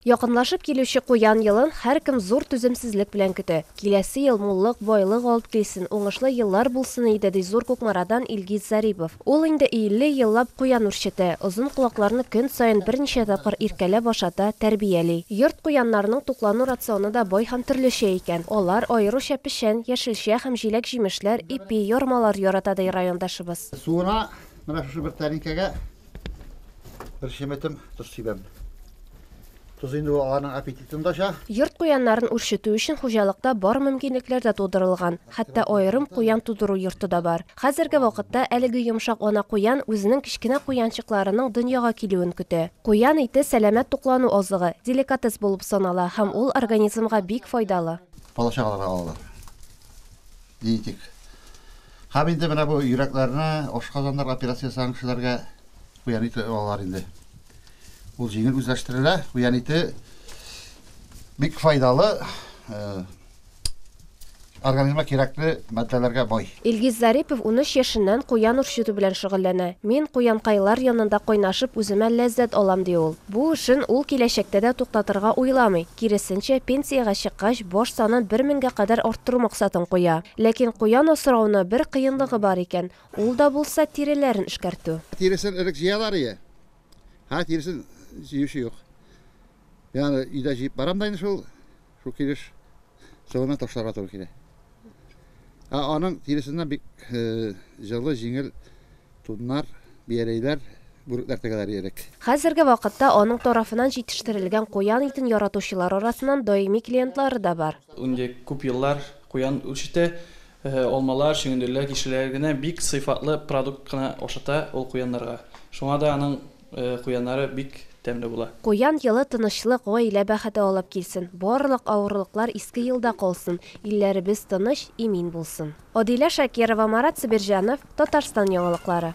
Якынлашып килүче Куян елын һәркем зур түземсезлек белән көтә. Киләсе ел муллык, байлык алып килсен, уңышлы еллар булсын иде, ди Зур Кукмарадан Илгиз Зарипов. Ул инде 50 еллап куян үрчетә, озын колакларны көн саен берничә тапкыр иркәләп ашата, тәрбияли. Йорт куяннарының туклану рационы да бай һәм төрлечә икән. Алар, аеруча печән, яшелчә һәм җиләк-җимешләр, ипи, ярмалар ярата, ди райондашыбыз. Суына менә шушы бер тәлинкәгә бер чеметем тоз сибәм. Тоз инде ул аларның аппетитын да ача. Йорт куяннарын үрчетү өчен хуҗалыкта бар мөмкинлекләр дә тудырылган, хәтта аерым куян тудыру йорты да бар. Хәзерге вакытта әлеге йомшак ана куян үзенең кечкенә куянчыкларының дөньяга килүен көтә. Куян ите сәламәт туклану азыгы, деликатес булып санала һәм ул организмга бик файдалы. Бала-чагаларга алалар. Генетик. Һәм инде менә бу йөрәкләрне, ашказаннар операция ясаган кешеләргә куян ите алалар инде. Ул җиңел үзләштерелә. Куян ите бик файдалы э, организмга кирәкле матдәләргә бай. Илгиз Зарипов 13 яшеннән куян үрчетү белән шөгыльләнә. Мин куянкайлар янында кайнашып үземә ләззәт алам, ди ул. Бу эшен ул киләчәктә дә туктатырга уйламый, киресенчә, пенсиягә чыккач, баш санын бер меңгә кадәр арттыру максатын куя. Ләкин куян асрауны бер кыенлыгы бар икән, Ул да булса тиреләрен эшкәртү. Тиресен элек җыялар ие. Ха тиресен җыючы юк. Мин аны өйдә җыеп барам да инде шул шул килеш сылына ташларга туры килә. Ә аның тиресеннән бик җылы, җиңел туннар, бияләйләр, бүрекләр тегәләр ие элек. Хәзерге вакытта аның тарафынан җитештерелгән куян итен яратучылар арасыннан даими клиентлары да бар. Инде күп еллар куян үрчетә, Алмалар, чөгендерләр, кишерләр генә бик сыйфатлы продукт кына ашата ул куяннарга. Шуңа да аның куяннары бик тәмле була. Куян елы тынычлык, гаилә бәхете алып килсен, барлык авырлыклар Иске елда калсын, илләребез тыныч, имин булсын. Адилә Шакирова, Марат Сабирҗанов, Татарстан яңалыклары.